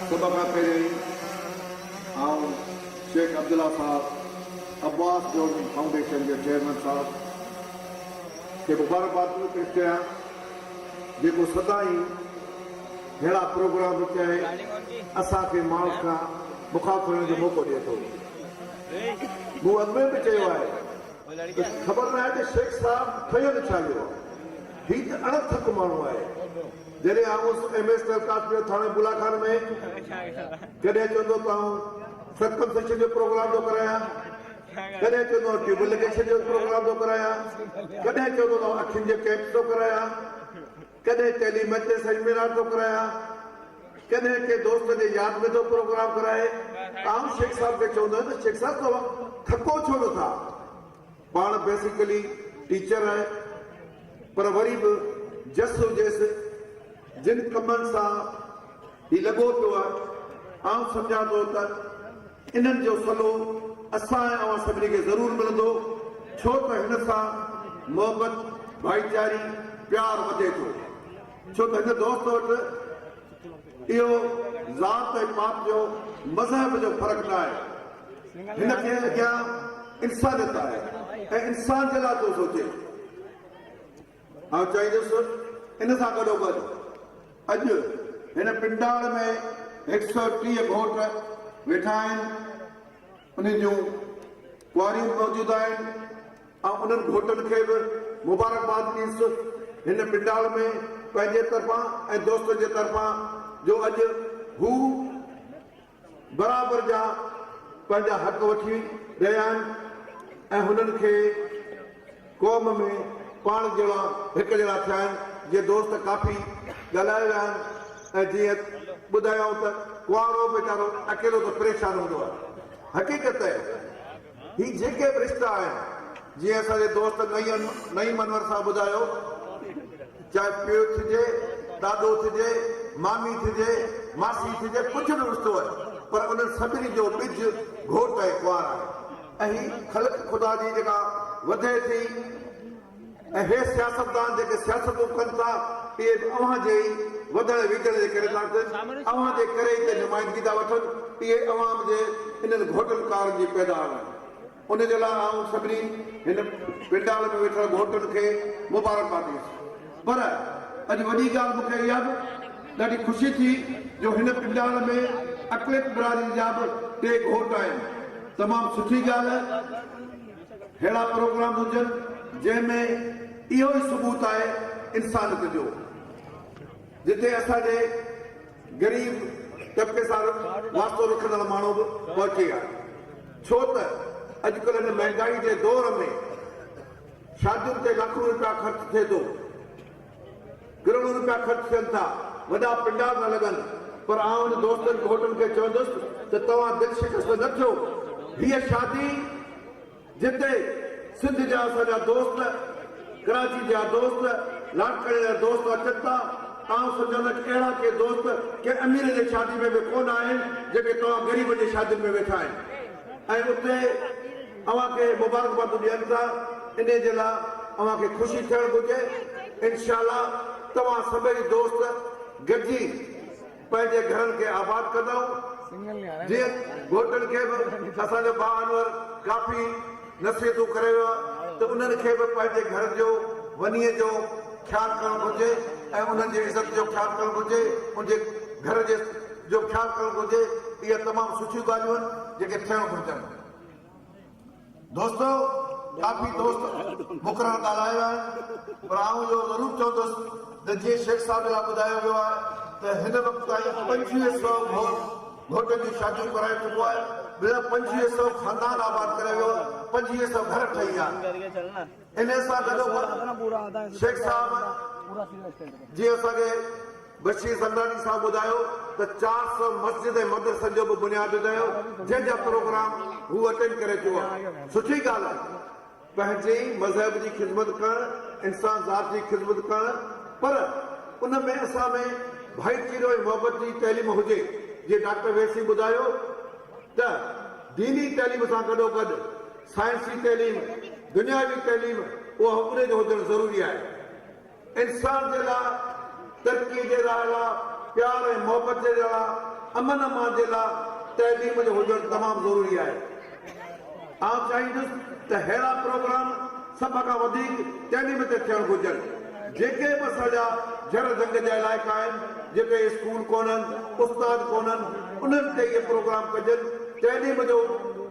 سڀ کان پهريائين آئون شيخ عبدالله صاحب عباس جوڻي فائونڊيشن جي چيئرمين صاحب کي مبارڪبادون پيش ڪيان جيڪو سدائين ههڙا پروگرام چائي اسان کي ماڻهن کان مخالف ٿيڻ جو موقعو ڏئي ٿو. مون اڳ ۾ به چيو آهي ته خبر ناهي ته شيخ صاحب ٺهيل ڇا ويو. هي ته اڻ ٿڪ ماڻهو آهي. جڏهن آئون هوس ايم ايس ٽيل ڪاسٽ جو ٿاڻي بلا خان ۾ ڪڏهن چوندو ته آئون سرڪمسيشن جو پروگرام ٿو ڪرايان ڪڏهن چوندو آئون ٽيوب لگيشن جو پروگرام ٿو ڪرايان ڪڏهن چوندو ته آئون اکين جو ڪيمپ ٿو ڪرايان ڪڏهن ٽيلي ميچ سيمينار ٿو ڪرايان ڪڏهن ڪنهن دوست جي ياد ۾ ٿو پروگرام ڪرائي آئون شيخ صاحب کي چوندو آهيان ته شيخ صاحب توهان ٿڪو ڇو نٿا پاڻ بيسيڪلي ٽيچر آهي پر وري به جس و جيس جن ڪمن سان هي لڳو پيو آهي آئون سمجهان ٿو ته انهن جو صلو اسان ۽ اوهان سڀني کي ضرور ملندو ڇو ته هن سان محبت ڀائيچاري پيار وڌي ٿو ڇو ته هن دوست وٽ اهو ذات ۽ پات جو، مذهب جو فرق ناهي. هن کي اڳيان انسانيت آهي ۽ انسان جي لاء ٿو سوچي. آئون چاهيندس ان سان گڏوگڏ اڄ هن پنڊاڙ ۾ هڪ سؤ ٽيهه گهوٽ ويٺا آهن، انهن جون ڪنواريون به موجود آهن، آئون انهن گهوٽن کي به مبارڪباد ڏيس هن پنڊال ۾ پنهنجي طرفان ۽ دوستن جي طرفان جو اڄ هو برابر جا پنهنجا حق وٺي رهيا آهن ۽ هنن کي قوم ۾ پاڻ جهڙا هڪ جهڙا ٿيا آهن جي دوست ڪافي ڳالهايو ويا آهن ۽ جيئن ٻڌايائون ته ڪنوارو ويچارو اڪيلو ته پريشان هوندو آهي حقيقت هي جيڪي به رشتا آهن جيئن اسان جي دوست نعيم انور صاحب ٻڌايو چاهي پيء ٿجي، ڏاڏو ٿجي، مامي ٿجي، ماسي ٿجي ڪجهه به رشتو آهي پر انهن سڀني جو ٻج گهوٽ ۽ ڪنوار آهي. اهي خلق خدا جي جيڪا وڌي ٿي ۽ اھي سياستدان جيڪي سياستون ڪن ٿا اھي به اوھان جي ئي وڌڻ ويجھڻ جي ڪري ٿا ڪن اوھان جي ڪري ئي ته نمائندگي ٿا وٺن اھي عوام جي انھن گھوٽن ڪارن جي پيدا آھن ان جي لاء آئون سڀني ھن پنڊال ۾ ويٺل گھوٽن کي مبارڪ باد ڏيندس پر اڄ وڏي ڳالھ مون کي اھا به ڏاڍي خوشي ٿي جو ھن پنڊال ۾ اقليت برادري جا به ٽي گھوٽ آھن تمام سٺي ڳالھ ههڙا پروگرام هجن جنهن ۾ اهو ئي ثبوت آهي انسانيت جو جتي اسان جي غريب طبقي سان واسطو رکندڙ ماڻهو به پهچي ها ڇو ته اڄڪلهه هن مهنگائي جي دور ۾ شادين تي لاکون روپيا خرچ ٿئي ٿو. ڪروڙ روپيا خرچ ٿين ٿا، وڏا پنڊال نه لڳن، پر آئون ان دوستن گهوٽن کي چوندس ته توهان دل شڪسته نه ٿيو، هيء شادي جتي سنڌ جا اسان جا دوست، ڪراچي جا دوست، لاڙڪاڻي جا دوست اچن ٿا، آئون سمجهان ٿو ته اهڙا ڪي دوست ڪنهن امير جي شادي ۾ به ڪونه آهن، جيڪي توهان غريبن جي شادين ۾ ويٺا آهن ۽ اتي. اوهان کي مبارڪبادون ڏين ٿا انهي جي لا اوهان کي خوشي ٿيڻ گهرجي انشاء الله توهان سڀئي دوست گڏجي پنهنجي گهرن کي آباد ڪندائون جئين گهوٽن کي به اسان جو ڀاء انور ڪافي نصيحتون ڪري ويو آهي ته انهن کي به پنهنجي گهرن جو ونيء جو خيال ڪرڻ گهرجي ۽ انهن جي عزت جو خيال ڪرڻ گهرجي ان جي گهر جي جو خيال ڪرڻ گهرجي اهي تمام سٺيون ڳالهيون آهن جيڪي ٿيڻ گهرجن. دوستو ڪافي دوست مقرر ڳالهايا ويا آهن پر آئون اهو ضرور چوندس ته جيئن شيخ صاحب لاء ٻڌايو ويو آهي ته هن وقت تائين پنجويهه سؤ گهوٽ گهوٽن جون شاديون ڪرائي چڪو آهي ٻيا پنجويهه سؤ خاندان آباد ڪري ويو آهي پنجويهه سؤ گهر ٺهي ويا آهن انهي سان گڏوگڏ شيخ صاحب جي اسان کي بشير زرداري صاحب ٻڌايو ته چار سؤ مسجد ۽ مدرسن جو به بنياد وڌايو جنهن جا پروگرام هو اٽينڊ ڪري چڪو آهي سٺي ڳالهه آهي پنهنجي مذهب جي خدمت ڪرڻ انسان ذات جي خدمت ڪرڻ پر ان ۾ اسان ۾ ڀائيچيرو ۽ محبت جي تعليم هجي جيئن ڊاڪٽر ويسي ٻڌايو ته ديني تعليم سان گڏو گڏ سائنسي تعليم دنياوي تعليم اها ان جو هجڻ ضروري آهي. انسان جي لاء، ترقي جي راهه لاء، پيار ۽ محبت جي لاء، امن امان جي لاء تعليم جو هجڻ تمام ضروري آهي. آئون چاهيندس ته ههڙا پروگرام سڀ کان وڌيڪ تعليم تي ٿيڻ گهرجن. جيڪي به اسان جا جهڙ جهنگ جا علائقا آهن، جتي اسڪول ڪونهن، استاد ڪونهن، انهن تي اهي پروگرام ڪجن، تعليم جو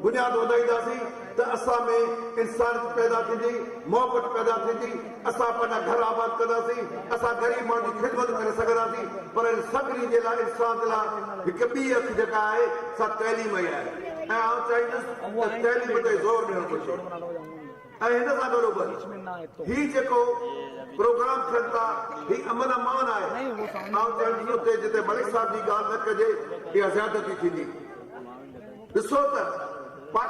بنياد وڌائينداسين. ته اسان ۾ انسانيت پيدا ٿيندي، محبت پيدا ٿيندي، اسان پنهنجا گهر آباد ڪنداسين، اسان غريب ماڻهن جي خدمت ڪري سگهنداسين، پر ان سڀني جي لاء انسان جي لاء هڪ ٻي اک جيڪا آهي سا تعليم ئي آهي ۽ آئون چاهيندس ته تعليم تي زور ڏيڻ گهرجي ۽ هن سان گڏوگڏ هي جيڪو پروگرام ٿين ٿا هي امن امان آهي آئون چاهيندس اتي جتي ملڪ صاحب جي ڳالهه نه ڪجي اها زيادتي ٿيندي ڏسو ته